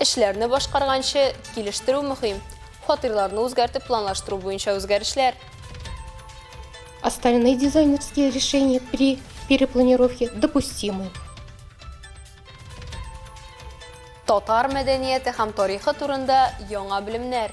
Эшләрне башкарганчы килештерү мөһим. Фатирларны үзгәртеп планлаштыру буенча үзгәрешләр. Остальные дизайнерские решения при перепланировке допустимы. Татар мәдәнияте һәм тарихы турында яңа белемнәр.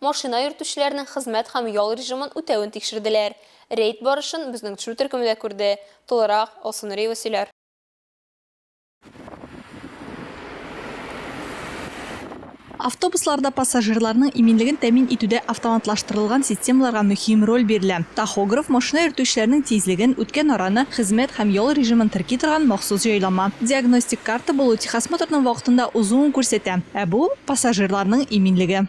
Машина йөртүчеләрнең хезмәт һәм ял режимын үтәвен тикшерделәр. Рейд барышын безнең төшерү төркеме дә күрде. Тулырак, Алсу Нуриева сөйләр. Автобусларда пассажирларның иминлеген тәэмин итүдә автоматлаштырылган системаларга мөһим роль бирелә. Тахограф, машина йөртүчеләрнең тизлеген, үткән араны, хезмәт һәм ял режимын терки торган махсус җайланма. Диагностик карта булу техосмотрның вакытында узуын күрсәтә, ә бу, пассажирларның иминлеге.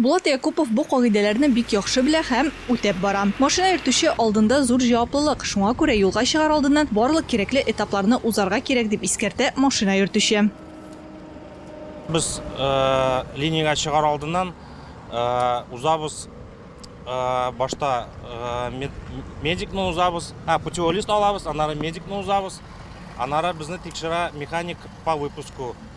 Булат Якупов бу кагыйдәләрне бик яхшы белә һәм үтәп бара. Машина йөртүче алдында зур җаваплылык, шуңа күрә юлга чыгар алдыннан барлык кирәкле этапларны узарга кирәк, дип искәртә машина йөртүче. Без линиягә чыгар алдыннан узабыз, башта медикны узабыз, путевой лист алабыз, аннары медикны узабыз, аннары безне тикшерә механик по выпуску,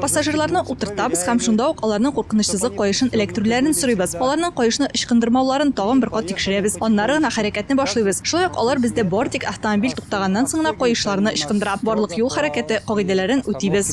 Пассажирларны утыртабыз һәм шунда ук аларның куркынычсызлык каешын эләктерүләрен сорыйбыз. Аларның каешны ычкындырмауларын тагын бер кат тикшерәбез. Аннары гына хәрәкәтне башлыйбыз. Шулай ук алар бездә бары тик автомобиль туктаганнан соң гына каешларны ычкындыра. Барлык юл хәрәкәте кагыйдәләрен үтибез.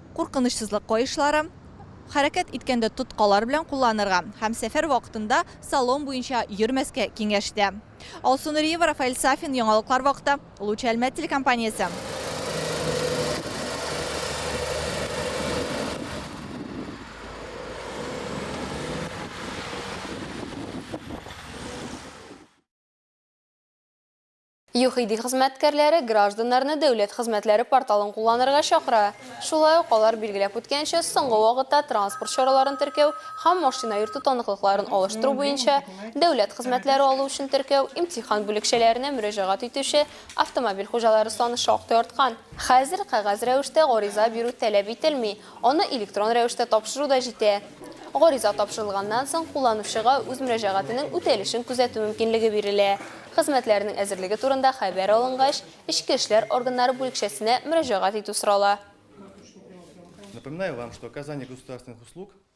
Куркынычсызлык каешлары, хәрәкәт иткәндә тоткалар белән кулланырга һәм сәфәр вакытында салон буенча йөрмәскә киңәш итә. Алсу Нуриева, Рафаэль Сафин, Яңалыклар вакыты, Луч Әлмәт телекомпаниясе. ЮХИДИ хезмәткәрләре гражданнарны Дәүләт хезмәтләре порталын кулланырга чакыра. Шулай ук, алар билгеләп үткәнчә, соңгы вакытта транспорт чараларын теркәү һәм машина йөртү таныклыкларын алыштыру буенча Дәүләт хезмәтләре алу өчен теркәү имтихан бүлекчәләренә мөрәҗәгать итүче автомобиль хуҗалары саны шактый арткан. Хәзер кәгазь рәвештә гариза бирү таләп ителми, Аны электрон рәвештә тапшыру да җитә. Гариза тапшырылганнан соң, кулланучыга үз мөрәҗәгатенең үтәлешен күзәтү мөмкинлеге бирелә. Хезмәтләрнең әзерлеге турында хәбәр алынгач, эчке эшләр органнары бүлекчәсенә мөрәҗәгать итү сорала.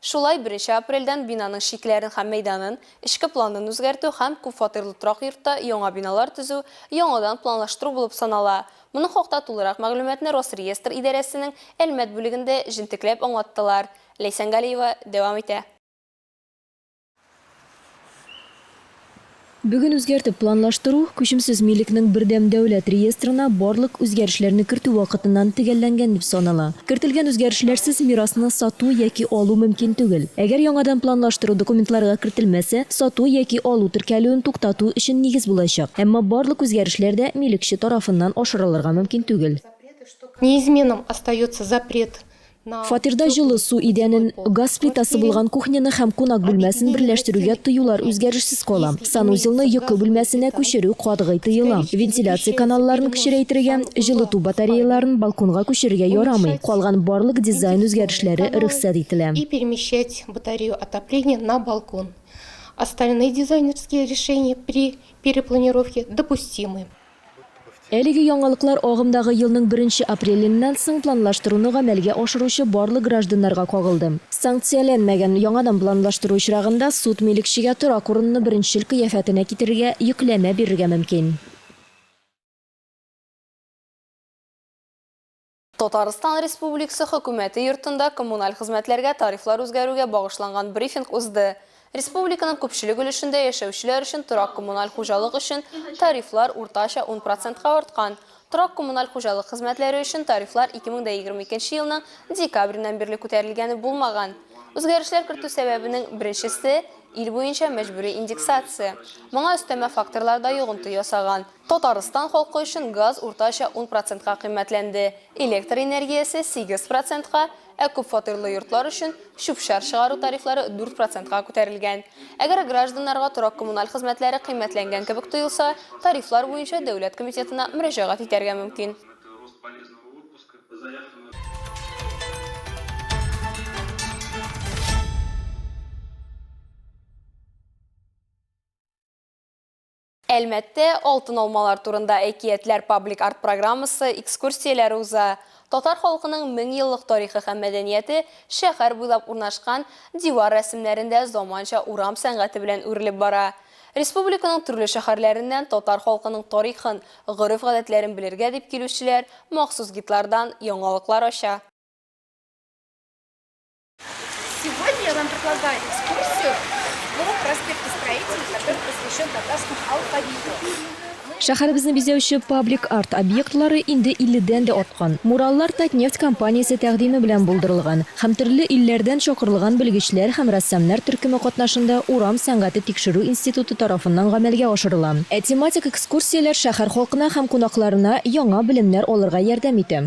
Шулай беренче апрельдән бинаның чикләрен һәм мәйданын, эчке планын үзгәртү һәм күп фатирлы торак йортта яңа биналар төзү яңадан планлаштыру булып санала. Моның хакта тулырак мәгълүматны Росреестр идарәсенең Әлмәт бүлегендә җентекләп аңлаттылар. Ләйсән Галиева дәвам итә. Бүген үзгәртеп планлаштыру, күчемсез милекнең бердәм дәүләт реестрына барлык үзгәрешләрне кертү вакытыннан төгәлләнгән дип санала. Кертелгән үзгәрешләрсез мирасны сату яки алу мөмкин түгел. Әгәр яңадан планлаштыру документларга кертелмәсә, сату яки алу теркәлүен туктату өчен нигез булачак. Әмма барлык үзгәрешләр дә милекче тарафыннан ашырылырга мөмкин түгел. Неизменным остается запрет Фатирда җылы су идәнен, газ плитасы булган кухняны һәм кунак бүлмәсен берләштерүгә тыюлар үзгәрешсез кала. Санузелны йокы бүлмәсенә күчерү катгый тыела. Вентиляция каналларын кечерәйтергә, җылыту батареяларын балконга күчерергә ярамый. Калган барлык дизайн үзгәрешләре рөхсәт ителә. И перемещать батарею отопления на балкон. Остальные дизайнерские решения при перепланировке допустимы. Әлеге яңалыклар агымдагы елның беренче апреленнән соң планлаштыруны гамәлгә ашыручы барлык гражданнарга кагылды. Санкцияләнмәгән, яңадан планлаштыру очрагында суд милекчегә торак урынны беренчел кыяфәтенә китерергә йөкләмә бирергә мөмкин. Татарстан Республикасы Хөкүмәте Йортында коммуналь хезмәтләргә тарифлар үзгәрүгә багышланган брифинг узды. Республиканың күпчелек өлешендә яшәүчеләр өчен торак-коммуналь хуҗалык өчен тарифлар уртача ун процентка арткан. Торак-коммуналь хуҗалык хезмәтләре өчен тарифлар 2022 елның декабреннән бирле күтәрелгәне булмаган. Үзгәрешләр кертү сәбәбенең беренчесе, ил буенча мәҗбүри индексация. Моңа өстәмә факторлар да йогынты ясаган. Татарстан халкы өчен газ уртача ун процентка кыйммәтләнде, электр энергиясе, сигез процентка, ә күпфатирлы йортлар өчен чүп-чар чыгару тарифлары дүрт процентка күтәрелгән. Әгәр гражданнарга торак-коммуналь хезмәтләре кыйммәтләнгән кебек тоелса, тарифлар буенча дәүләт комитетына мөрәҗәгать итәргә мөмкин. Әлмәттә Алтын алмалар турында әкиятләр паблик арт-программасы экскурсияләре уза. Татар халкының меңьеллык тарихы һәм мәдәнияте шәһәр буйлап урнашкан дивар рәсемнәрендә заманча урам сәнгате белән үрелеп бара. Республиканың төрле шәһәрләреннән татар халкының тарихын, гореф-гадәтләрен белергә дип килүчеләр махсус гидлардан яңалыклар ача. Сегодня я вам предлагаю экскурсию по проспекту строителей, который посвящен татарскому алфавиту. Шәһәребезне бизәүче паблик арт объектлары инде 50-дән дә арткан. Мураллар Татнефть компаниясе тәкъдиме белән булдырылган һәм төрле илләрдән чакырылган белгечләр һәм рәссамнар төркеме катнашында Урам сәнгате тикшерү институты тарафыннан гамәлгә ашырыла. Ә тематик экскурсияләр шәһәр халкына һәм кунакларына яңа белемнәр алырга ярдәм итә.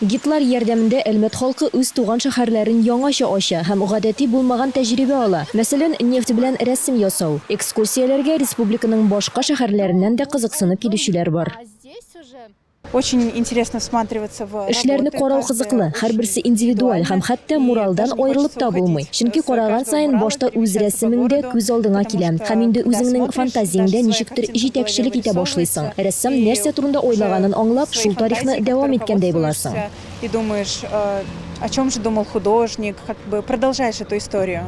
Гидлар ярдәмендә Әлмәт халкы үз туган шәһәрләрен яңача ача һәм гадәти булмаган тәҗрибә ала, мәсәлән, нефть белән рәсем ясау. Экскурсияләргә республиканың башка шәһәрләреннән дә кызыксынып килүчеләр бар. Эшләрне карау кызыклы, һәрберсе индивидуаль һәм хәтта муралдан аерылып та булмый. Чөнки караган саен башта үз рәсемең дә күз алдыңа килә һәм инде үзеңнең фантазиянг дә ничектер җитәкчелек итә башлыйсың. Рәссам нәрсә турында уйлаганын аңлап, шул тарихны дәвам иткәндәй буласың. И думаешь, о чем же думал художник, как бы продолжаешь эту историю.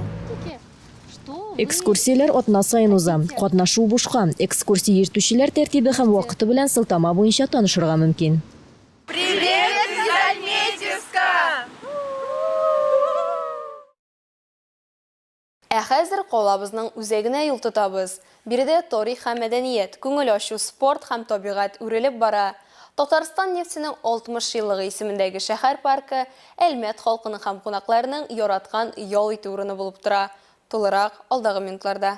Экскурсияләр атна саен уза. Катнашу бушка. Экскурсия йөртүчеләр тәртибе һәм вакыты белән сылтама буенча танышырга мөмкин. Привет из Альметьевска! Ә хәзер калабызның үзәгенә юл тотабыз. Биредә тарих һәм мәдәният, күңел ачу, спорт һәм табигать үрелеп бара. Татарстан нефтенең 60 еллыгы исемендәге шәһәр паркы Әлмәт халкының һәм кунакларының яраткан ял итү урыны булып тора. Тулырак, алдагы минутларда.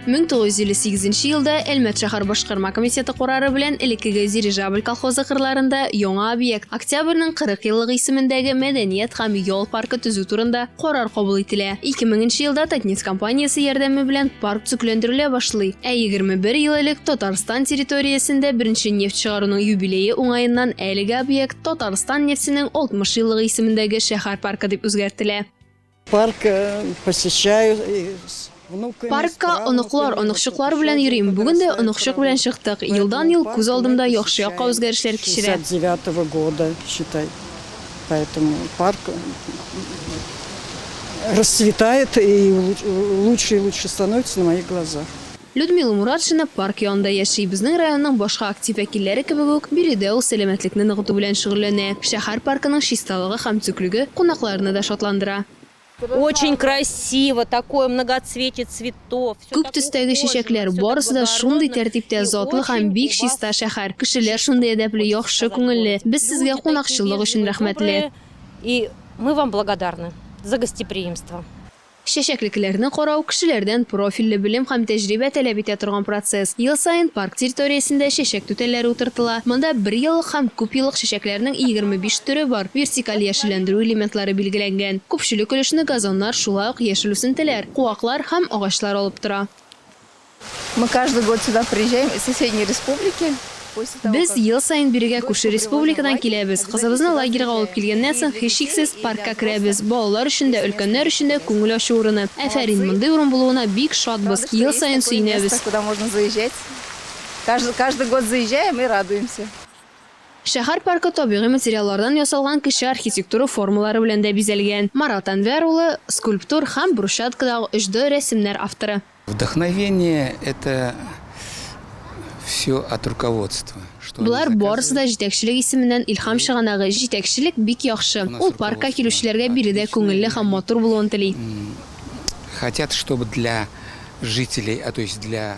мең тогыз йөз илле сигезенче елда әлмәт шәһәр башкарма комитеты карары белән элеккеге дирижабль колхозы кырларында яңа объект октябрьнең кырык еллыгы исемендәге мәдәният һәм ял паркы төзү турында Карар кабул ителә. 2000 нче елда Татнефть компаниясе ярдәме белән парк төзекләндерелә башлый. Ә 21 ел элек Татарстан территориясендә беренче нефть чыгаруның юбилее уңаеннан әлеге объект Татарстан нефтенең 60 еллыгы исемендәге шәһәр паркы дип үзгәртелә. Парк э, посещаю. Паркка оныклар, оныкчыклар белән йөрим. Бүген дә оныкчык белән чыктык. Елдан-ел күз алдымда яхшы якка үзгәрешләр кичерә. Людмила Муратшина парк янында яши. Безнең районның башка актив вәкилләре кебек үк, биредә ул сәламәтлекне ныгыту белән шөгыльләнә. Шәһәр паркының чисталыгы һәм төклеге кунакларны да шатландыра. Очень красиво, такое многоцветие цветов. Күп төстәге чәчәкләр, барысы да шундый тәртиптә, затлы һәм бик чиста шәһәр. Кешеләр шундый әдәпле, яхшы күңелле. Без сезгә кунакчыллык өчен рәхмәтле. И мы вам благодарны за гостеприимство. Чәчәклекләрне карау, кешеләрдән профильле белем һәм тәҗрибә таләп итә торган процесс. Ел саен парк территориясендә чәчәк түтәлләре утыртыла. Монда берьеллык һәм күпьеллык чәчәкләрнең егерме биш төре бар, вертикаль яшелләндерү элементлары билгеләнгән. Күпчелек өлешне газоннар, шулай ук яшел үсентеләр, куаклар һәм агачлар алып тора. Мы каждый год сюда приезжаем из соседней республики. Без ел саен бирегә күрше республикадан киләбез. Кызыбызны лагерьга алып килгәннән соң, һичшиксез, паркка керәбез. Балалар өчен дә, өлкәннәр өчен дә күңел ачу урыны. Афәрин, мондый урын булуына бик шатбыз, ел саен сөенәбез. Каждый год заезжаем и радуемся. Шәһәр паркы табигый материаллардан ясалган кече архитектура формалары белән дә бизәлгән. Марат Әнвәр улы, скульптор һәм брусчаткадагы 3D рәсемнәр авторы. Вдохновение это всё от руководства. Болар барысы да җитәкчелек исеменнән илһам чыганагы, җитәкчелек бик яхшы, ул паркка килүчеләргә биредә күңелле һәм матур булуын тели. Хотят чтобы для жителей, то есть для.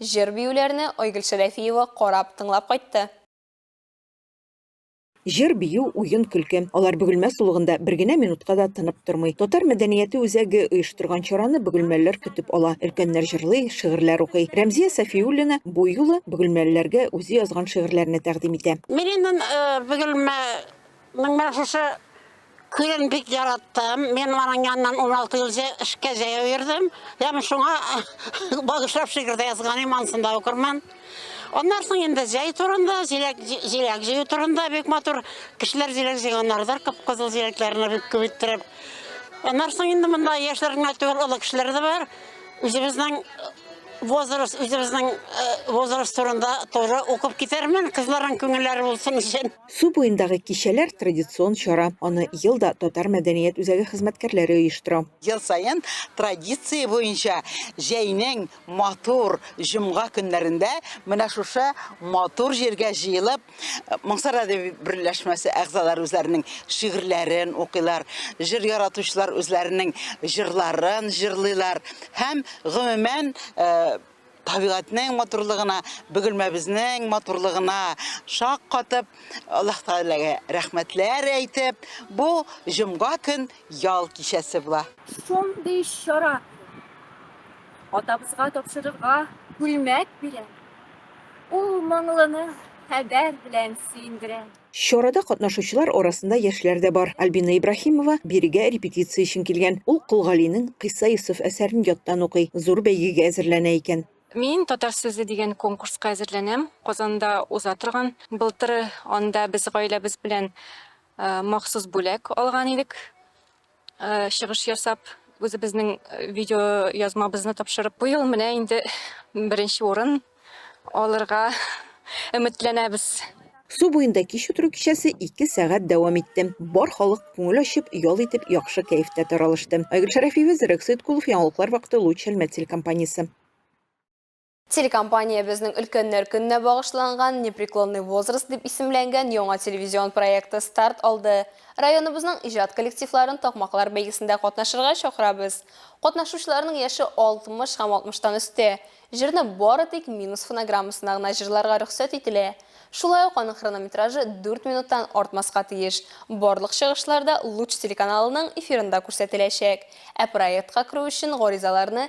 Җыр-биюләрне Айгөл Шәрәфиева карап, тыңлап кайтты. Җыр, бию, уен, көлке, алар Бөгелмә сулыгында бер генә минутка да тынып тормый. Татар мәдәнияте үзәге оештырган чараны бөгелмәлеләр көтеп ала. Өлкәннәр җырлый, шигырьләр укый. Рәмзия Сафиуллина бу юлы бөгелмәлеләргә үзе язган шигырьләрне тәкъдим итә. Мин инде Бөгелмә Моның башысы күрен бик яраттым. Мин аның янынан 16 ел эшкә җәяү йөрдем. Һәм шуңа багышлап шигырь дә язганым, анысын да укырмын. Аннан соң инде җәй турында, җиләк җиләк җыю турында бик матур кешеләр җиләк җыйганнардыр, кып-кызыл җиләкләрне бик күп иттереп. Аннан соң инде монда яшьләр генә түгел, олы кешеләр дә бар. Үзебезнең возраст, үзебезнең возраст турында тоже укып китермен, кызларның күңелләре булсын өчен. Су буендагы кичәләр, традицион чара. Аны ел да татар мәдәният үзәге хезмәткәрләре оештыра. Ел саен традиция буенча җәйнең матур җомга көннәрендә менә шушы матур җиргә җыелып, Моңсар әдәби берләшмәсе әгъзалары үзләренең шигырьләрен укыйлар, җыр яратучылар үзләренең җырларын җырлыйлар һәм, гомумән, табигатьнең матурлыгына, бөгелмәбезнең матурлыгына шаккатып, Аллаһ Тәгаләгә рәхмәтләр әйтеп, бу җомга көн ял кичәсе була. Шундый чара атабызга тапшырырга күлмәк бирә, ул моңлыны хәбәр белән сөендерә. Чарада катнашучылар арасында яшьләр дә бар. Альбина Ибраһимова бирегә репетиция өчен килгән. Ул Кол Галинең Кыйса Йосыф әсәрен яттан укый, зур бәйгегә әзерләнә икән. Мин Татар сүзе дигән конкурска әзерләнәм. Казанда уза торган. Былтыр анда без гаиләбез белән махсус бүләк алган идек. Э, чыгыш ясап үзебезнең э, видео язмабызны тапшырып быел менә инде беренче урын алырга өметләнәбез Су буенда кич утыру кичәсе 2 сәгать дәвам итте. Бар халык күңел ачып, ял итеп, яхшы кәефтә таралышты. Айгөл Шәрәфиева, Зирәк Сыйткулов, яңалыклар вакыты Луч Әлмәт телекомпаниясе. Телекомпаниябезнең Өлкәннәр көненә багышланган Непреклонный возраст дип исемләнгән яңа телевизион проекты старт алды. Районыбызның иҗат коллективларын Такмаклар бәйгесендә катнашырга чакырабыз. Катнашучыларның яше 60 һәм 60 тан өстә. Җырны бары тик минус фонограммасына гына җырларга рөхсәт ителә. Шулай ук аның хронометражы 4 минуттан артмаска тиеш. Барлык чыгышлар да Луч телеканалының эфирында күрсәтеләчәк. Ә проектка керү өчен гаризаларны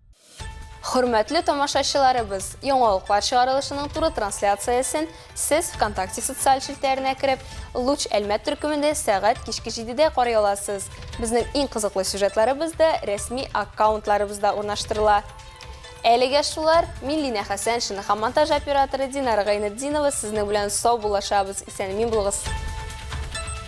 Хөрмәтле тамашачыларыбыз, яңалыклар чыгарылышының туры трансляциясен сез ВКонтакте социаль челтәренә кереп, Луч Әлмәт төркемендә сәгать кичке 7-дә карый аласыз. Безнең иң кызыклы сюжетларыбыз да рәсми аккаунтларыбызда урнаштырыла. Әлегә шулар, мин Лина Хәсәншина һәм монтаж операторы Динара Гайнетдинова сезнең белән сау булашабыз, исән-имин булыгыз!